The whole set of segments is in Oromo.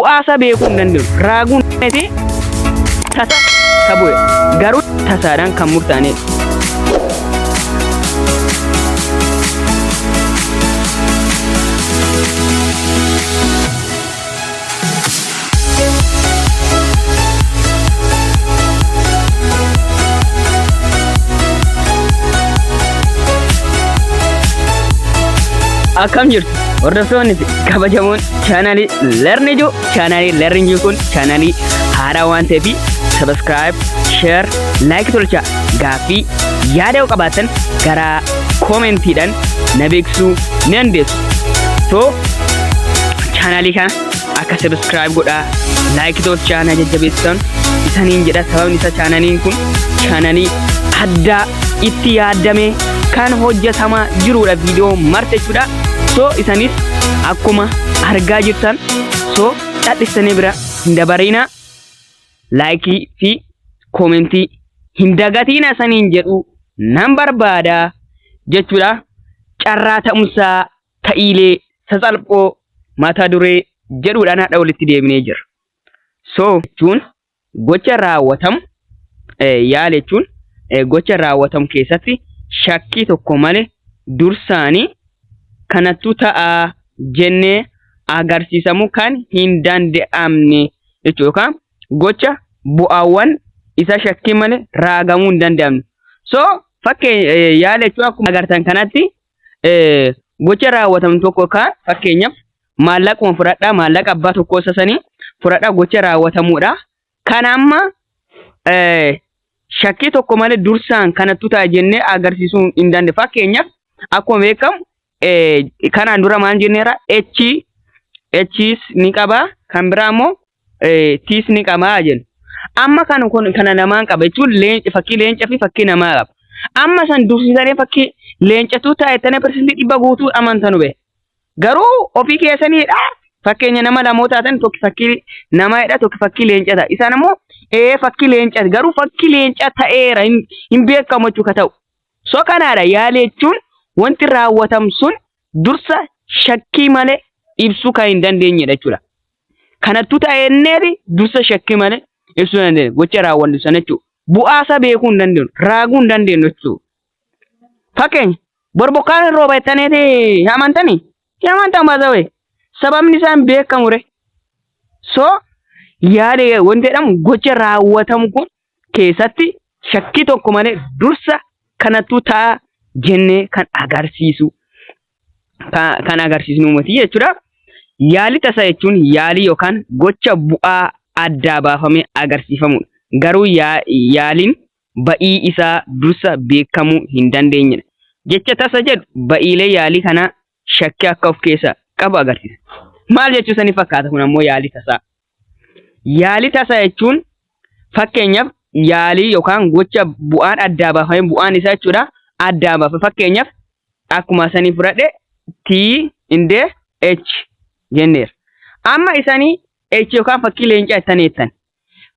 bu'aasaa beekuu hin dandeenyu. Raaguun fi tasa ka bu'e garuu tasaadhaan kan murtaa'e. Akkam jirtu hordoftoonni fi kabajamoon chaanalii learn ijoo chaanalii learn ijoo kun chaanalii haaraa waan ta'eef subscribe share like tolchaa gaaffii yaada yoo qabaatan gara koomentiidhaan na beeksisuu ni dandeessu so chaanalii kana akka subscribe godhaa like tolchaa na jajjabeessan isaniin jedha sababni isaa chaanaliin kun chaanalii addaa itti yaaddame kan hojjetamaa jiruudha viidiyoo marti jechuudha so isanis akkuma argaa jirtan so dhadhistanii bira hin dabariina laayikii fi koomentii hin dagatiina saniin jedhu nan barbaada jechuudha carraa ta'umsaa ta'iilee sasalphoo mata duree jedhuudhaan haadha walitti deebinee jira so jechuun Gocha raawwatamu yaale jechuun gocha raawwatamu keessatti shakkii tokko malee dursaanii kanattu ta'a jennee agarsiisamuu kan hin danda'amne jechuudha. Yookaan gocha bu'aawwan isa shakkii malee raagamuu hin danda'amne. So fakkee yaale jechuun akkuma agartan kanatti gocha raawwatamu tokko kaan fakkeenyaaf maallaquma fudhadhaa maallaqa abbaa tokkoo isa sanii fudhadhaa gocha raawwatamuudha. Kan amma shakkii tokko malee dursaan kanattu ta'a jennee agarsiisuu hin dandeenye. Fakkeenyaaf akkuma beekamu kanaan dura maal jenneera H H's ni qaba kan biraa immoo tiis ni qamaa jennu. Amma kan kun kana namaan qaba jechuun leenca fakkii leenca fi fakkii namaa qaba. Amma san dursisanii fakkii leencatuu taa'ettanii parsantii dhibba guutuu amantanu bee. Garuu ofii keessaniidha fakkeenya nama lamoo taatan tokko fakkii namaadha tokko fakkii leenca ta'a. Isaan ammoo ee fakkii leenca garuu fakkii leenca ta'eera hin beekamu jechuudha ta'u. So kanaadha yaali jechuun wanti raawwatamu sun dursa shakkii malee ibsuu kan hin dandeenyedha jechuudha. Kanattu ta'e inneeti dursa shakki malee ibsuu hin dandeenye. Gocha raawwannu sana jechuudha. Bu'aa isaa beekuu hin dandeenyu. Raaguu hin dandeenyu jechuudha. Fakkeenya bor bokkaan hin rooba jettaniiti hin amantanii? Hin amantan baasawee. Sababni isaa hin beekamu ree. So yaada wanti jedhamu gocha raawwatamu kun keessatti shakkii tokko malee dursa kanatu ta'a jennee kan agarsiisu kan agarsiisnu miti jechuudha. Yaalii tasaa jechuun yaalii yookaan gocha bu'aa addaa baafamee agarsiifamudha. Garuu yaaliin ba'ii isaa dursa beekamuu hin dandeenyedha. Jecha tasa jedhu ba'iilee yaalii kanaa shakkii akka of keessaa qabu agarsiisa. Maal jechuu sanii fakkaata kun ammoo yaalii tasaa. Yaalii tasaa jechuun fakkeenyaaf yaalii yookaan gocha bu'aan addaa baafame bu'aan isaa jechuudha addaa baafa fakkeenyaaf akkuma sanii fudhadhe T indee H jenneera. Amma isanii H yookaan fakkii leencaa ittanii jettan.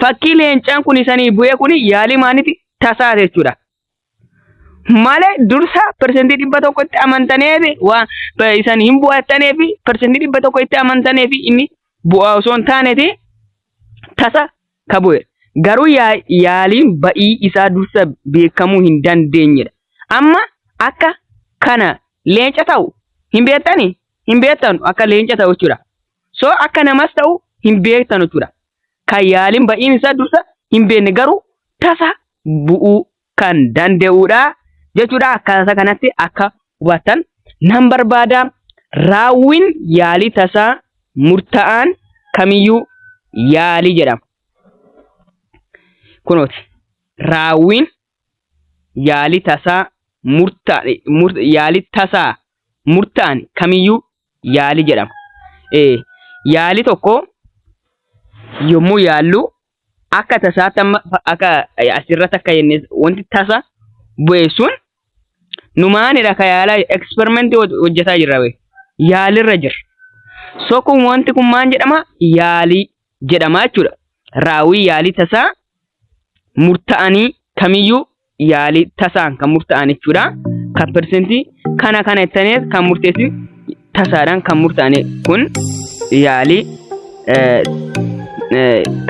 Fakkii leencaan kun isanii bu'ee kun yaalii maaniti tasaa jechuudha. malee dursa persentii dhibba tokko itti amantaneefi waa isan hin bu'attaneefi persentii dhibba tokko itti amantaneefi inni bu'aa osoo hin taaneti tasa ka bu'e garuu yaa- yaaliin ba'ii isaa dursa beekamuu hin dandeenyedha. Amma akka kana leenca ta'u hin beektani hin beektanu akka leenca ta'u jechuudha. So akka namas ta'u hin beektanu jechuudha. kan yaaliin ba'iin isaa dursa hin beekne garuu tasa bu'uu kan danda'udha jechuudha. Akkaataa kanatti akka hubattan nan barbaada. Raawwiin yaalii tasaa murtaa'aan kamiyyuu yaalii jedhama. Kunooti raawwiin yaalii tasaa murtaa'e yaalii tasaa murtaa'an kamiyyuu yaali jedhama. Eh, yaali tokko yommuu yaallu akka tasaatti amma fa- akka eh, asirratti akka jenne wanti tasa bu'e sun numaanidha ka yaalaa eksperimentii hoj- hojjetaa jirra bee yaalirra jirra. So kun wanti kun maal jedhama yaalii jedhama jechuudha. Raawwii yaalii tasaa murta'anii kamiyyuu yaalii tasaan kan murtaa'an jechuudha. Kan persentii kana kana jettanii kan murteessin tasaadhaan kan murtaa'an kun yaalii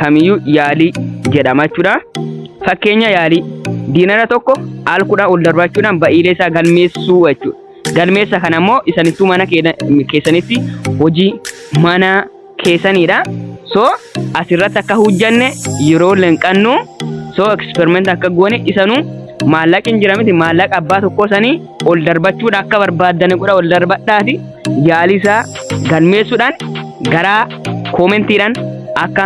kamiyyuu yaalii jedhama jechuudha. Fakkeenya yaalii diinara tokko al kudhaa ol darbaachuudhaan ba'iilee isaa galmeessuu jechuudha. Galmeessa kana immoo isanittuu mana keessanitti hojii manaa keessaniidha. So asirratti akka hojjanne yeroo lenqannu so experiment akka goone isanu maallaqni jira miti maallaqa abbaa tokkoo sanii ol darbachuudha akka barbaaddani godha ol darbadhaati yaalii isaa galmeessuudhaan garaa koomentiidhaan akka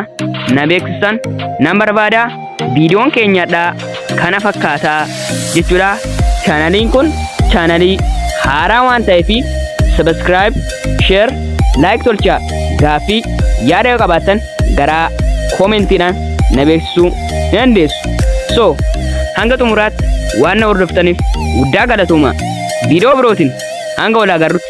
na beeksisan nan barbaada. Viidiyoon keenya hadhaa kana fakkaataa jechuudha. Chaanaliin kun chaanalii haaraa waan ta'eef subscribe, share, like tolchaa gaaffii yaada yoo qabaattan garaa koomentiidhaan na beeksisuu ni dandeessu. So, hanga xumuraatti waan na hordoftaniif guddaa galatooma. Viidiyoo birootiin hanga wal agarrutti.